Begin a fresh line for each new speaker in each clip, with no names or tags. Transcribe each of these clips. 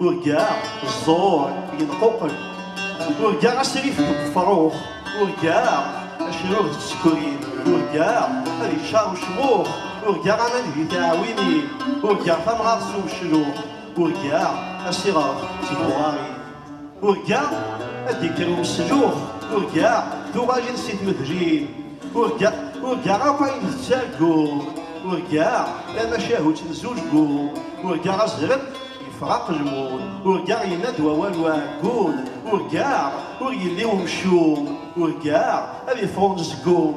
Urgaɣ ẓẓur yenquqel, urgaɣ asrif deg ufrux, urgaɣ acrur d tsekrin, urgaɣ ad iččar ucmuq, urgaɣ aman di tiɛwinin, urgaɣ tamɣart s umecluq, urgaɣ asiɣref d tbuɣarin, urgaɣ ad d-ikker umeslux, urgaɣ tuɣalin si tmedlin, urgaɣ urgaɣ akk ayen tettargum, urgaɣ tamacahut n zulgu, urgaɣ azrem Ifraq lmut, urgaɣ yenna-d wawal uɛeggun, urgaɣ ur yelli umcum, urgaɣ ad iffeɣ unezgum,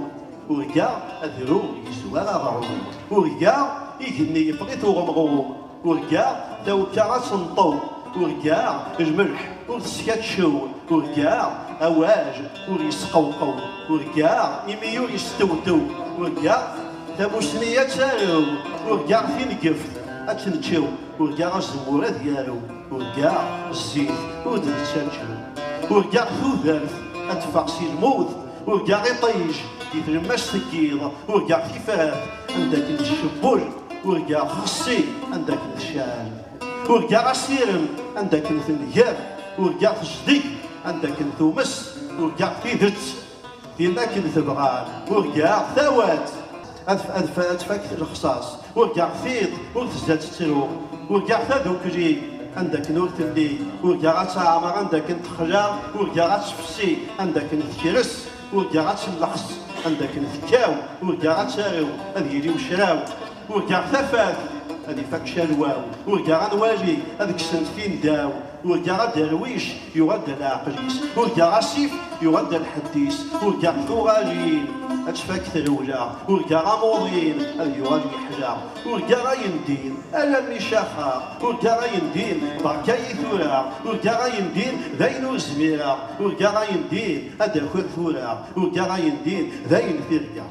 urgaɣ adrum yezwar aɣrum, urgaɣ igenni yeffeɣ-it uɣemɣum, urgaɣ tawekka ad tenṭew, urgaɣ lmelḥ ur teskatcew, urgaɣ awaj ur yesqewqew, urgaɣ imi ur yestewtew, urgaɣ tamusni ad tarew, urgaɣ tinegeft ad tneččew. Urgaɣ azemmur ad yarew, urgaɣ zzit ur d-nettaǧǧu, urgaɣ tudert ad teffeɣ si lmut, urgaɣ iṭij di tlemmast n yiḍ, urgaɣ tifrat anda akken tcebbul, urgaɣ xessi anda akken tecɛel, urgaɣ asirem anda akken tenger, urgaɣ tejdeg anda akken tumes, urgaɣ tidet Yella akken tebɣan, urgaɣ tawat. Ad tfak lexṣaṣ, urgaɣ tiṭ ur tezza tettru. Urgaɣ tadukli, anda akken ur telli. Urgaɣ ad teɛmer, anda akken texla. Urgaɣ ad tefsi, anda akken tekres. Urgaɣ ad telleḥs, anda akken tekkaw. Urgaɣ ad tarew, ad yili ucraw. Urgaɣ tafat ad ifak calwaw, urgaɣ anwali ad kksen tfindaw, urgaɣ aderwic yuɣal-d a leɛqel-is, urgaɣ asif yuɣal-d a lḥedd-is, urgaɣ tuɣalin ad tfak trewla, urgaɣ amuḍin ad yuɣal yeḥla, urgaɣ ayendin alammi caxeɣ, urgaɣ ayendin berka-yi tura, urgaɣ ayendin d ayen ur zmireɣ, urgaɣ ayendin ad d-akiɣ tura, urgaɣ ayendin d ayen tirga.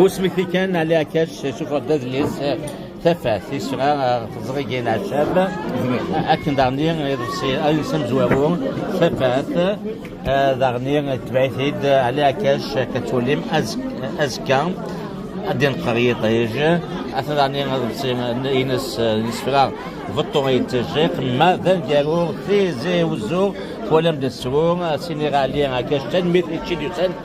Ur
smekti kan Ali Akac yessufeɣ-d adlis Tafat yesra teẓrigin acab akken daɣni iḍebsi adlis amezwaru Tafat daɣni tebɛ-it-id Ali Akac akka tulim azekka ad yenqer yiṭij ata daɣni iḍebsi ines yesfra beṭṭu yettejjiq ma d aneggaru tizi uzzu twalam-d srur sini Ali Akac tanemmirt i ččid
yusan